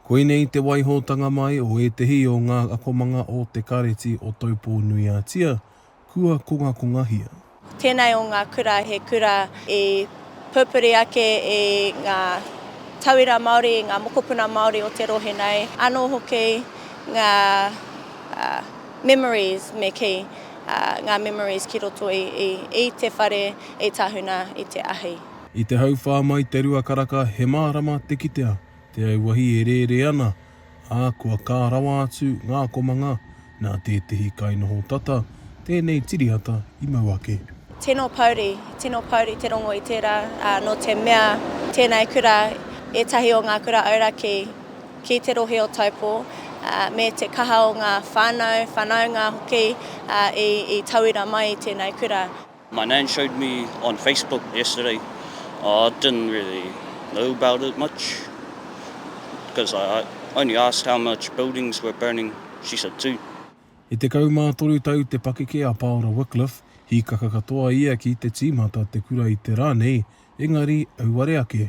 Koinei te waihotanga mai o ētehi o ngā akomanga o Te Kāreti o Taupō-nui-a-Tia, kua kongakongahia. Tēnei o ngā kura he kura i pupuri ake i ngā tauira Māori, i ngā mokopuna Māori o te rohe nei, anō hoki ngā memories me kī, ngā memories ki roto i te whare, i tahuna i te ahi. I te hauwhā mai te rua karaka he mārama te kitea te auahi e rērē ana, ā, kua kā rawa atu ngā komanga nā tētehi kainoho tata tēnei tiriata i mau ake. Tino pouri, tino pouri te rongo i tērā, ā, nō te mea tēnei kura ētahi o ngā kura auraki ki te rohe o Taupō, ā, me te kaha o ngā whānau, whānaunga hoki, ā, i tauira mai i tēnei kura. My nan showed me on Facebook yesterday, I didn't really know about it much because I only asked how much buildings were burning, she said two. I tekau mā toru tau te pakeke a Paora Wycliffe, hīkaka katoa ia ki te tīmata te kura i te rā nei, engari auare ake.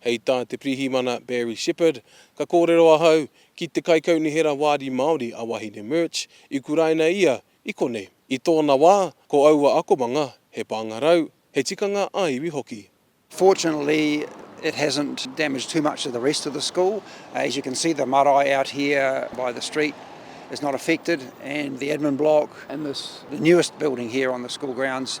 Hei tā te Pirihimana Barry Shepherd, Ka kōrero ahau ki te Kaikaunihera Wāri Māori a Wahine Murch, i kuraina ia i konei. I tōna wā, ko aua akomanga, he pāngarau, he tikanga ā-iwi hoki. Fortunately it hasn't damaged too much of the rest of the school. As you can see the marae out here by the street is not affected and the admin block in this, the newest building here on the school grounds,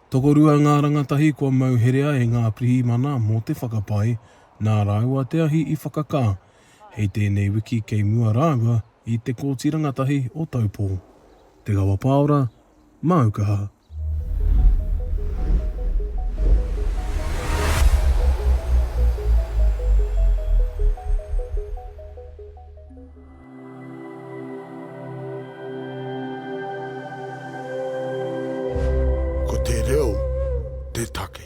Tokorua ngā rangatahi kua mau herea e ngā pirihimana mō te whakapae nā rāua te ahi i whakakā hei tēnei wiki kei mua rāua i te Kōti Rangatahi o Taupō. Te Gawa Paora, Māu Kaha. Ko te reo te take.